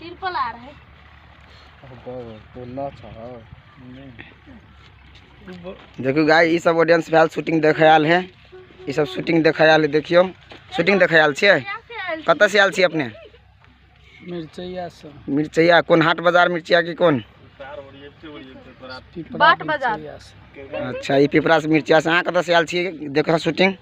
तिरपल आ रहे देखियो गाय ई सब ऑडियंस भेल शूटिंग देखे आयल है ई सब शूटिंग देखे आयल है देखियो शूटिंग देखे आयल छियै कतऽ से आयल छियै अपने मिर्चैया से मिर्चैया कोन हाट बाजार मिर्चैया की कोन बाट बाजार अच्छा ई पिपरा से मिर्चैया से अहाँ कतऽ से आयल छियै देखऽ शूटिंग